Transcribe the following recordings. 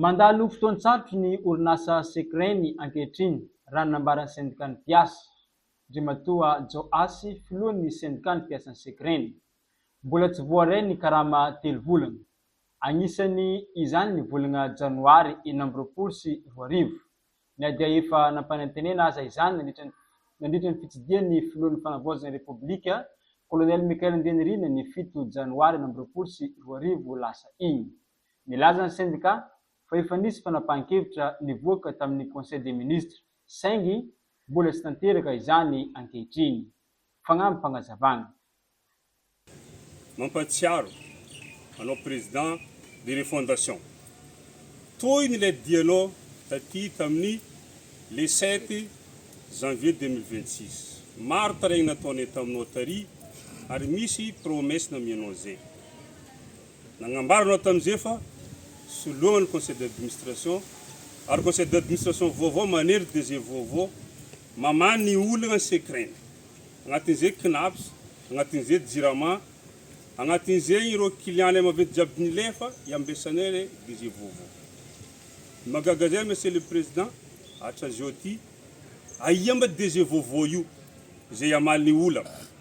Mandalo fotoan-tsarotra ny orinasa Secreni ankehitriny, raha ny nambaran'ny sendikàn'ny mpiasa. Andriamatoa Joasy, filohan'ny sendikàn'ny mpiasan'ny Secreni. Mbola tsy voaray ny karama telo volana. Agnisany izany ny volagna janoary enina amby roapolo sy roa arivo. Na dia efa nampanantenena aza izany nandritra ny nandritra ny fitsidihan'ny filohan'ny Fanavaozana Repoblika, Colonel Michael Andrianirina ny fito janoary enina amby roapolo sy roa arivo lasa igny. Nilaza ny sendika fa efa nisy fanapahan-kevitra nivoaka tamin'ny Conseil des ministres saingy mbola tsy tanteraka izany ankehitriny. Fagnampim-pagnazavana. Mampahatsiaro anao président de refondation toy ny ilay dianao taty tamin'ny le sept janvier deux mille vingt six maro taraigny nataonay taminao tary ary misy promesse namianao zay. Nagnambaranao tamin'izay fa soloana ny conseil d'administration ary conseil d'administration vaovao manery DG vaovao mamaha ny olana ny secret-ny. Agnatin'izay Cnaps, agnatin'izay Jirama, agnatin'izay ireo client-nay maventy jiaby nilefa iambesanay le DG vaovao. Ny mahagaga zay Monsieur le Président, hatrazao ty, aia mba DG vaovao io izay hamaly ny olana?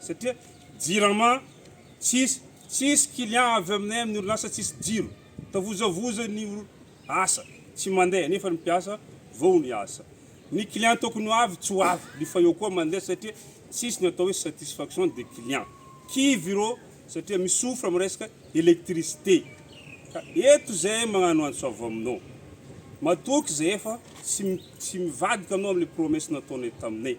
satria jirama tsisy, tsisy client avy aminay amin'ny orinasa tsisy jiro, tavozavoza ny asa, tsy mandeha nefa ny mpiasa vao ny asa, ny client tokony ho avy tsy ho avy, ny fayot koa mandeha satria tsisy ny atao hoe satisfaction des clients, kivy ireo satria mi-souffre amin'ny resaka électricité, ka eto izay magnano antso avy aminao, matoky izay efa tsy mivadika anao amin'ilay promesse nataonay taminay.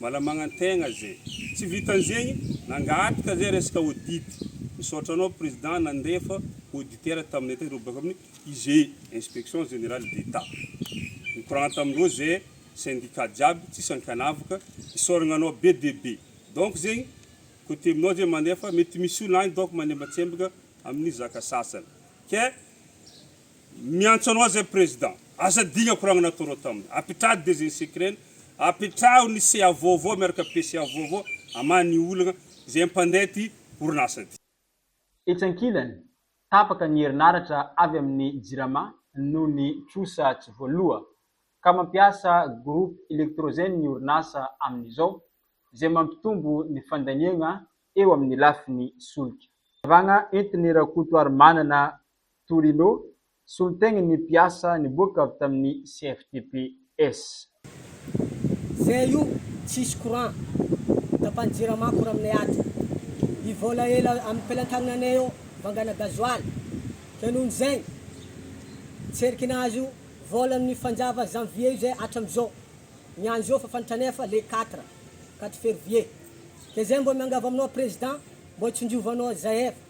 Malamagnan-tegna ze. Tsy vitan'zegny, nangataka ze resaka audit. Misaotra anao Président nandefa auditeur taminay tany reo baka amin'ny IGE, Inspection Générale d'Etat. Nikoragna tamin-dreo ze syndicat jiaby, tsisy ankanavaka. Isaoragna anao be dia be. Donc zegny, côté aminao ze mandefa, mety misy olona any donc manembatsembaka amin'ny zaka sasany. Ke Miantso anao zay président, aza adigno akoragnana toro taminy, apetraho desinsekrena, apetraho ny CA vaovao miaraka PCA vaovao amaha ny olagna zay ampandeha ty orinasa ty. Etsy ankilany, tapaka ny herinaratra avy amin'ny Jirama noho ny trosa tsy voaloa, ka mampiasa groupe électrogène ny orinasa amin'izao, izay mampitombo ny fandaniagna eo amin'ny lafiny solika. Fanazavagna entin'i Rakotoarimanana Torino, solontenan'ny mpiasa niboaka avy tamin'ny CFTPS. Zay io tsisy courant tapany jirama courant aminay ato i vola ela aminy pelantagnanay eo vangana gasoil ke noho ny zay tserikina azy io vola aminy fanjava janvier io zay atra amizao ny any zao fa fantanefa le quatre quatre fervier de zay mbo miangavy aminao president mbo tsonjovanao zay efa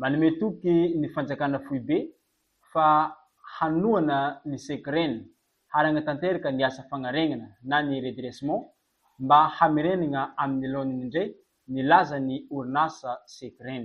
Manome toky ny fanjakana foibe fa hanohana ny Secren harangana tanteraka ny asa fagnaregnana na ny redressement mba hamerenagna amin'ny laoniny ndray ny lazan'ny orinasa Secren.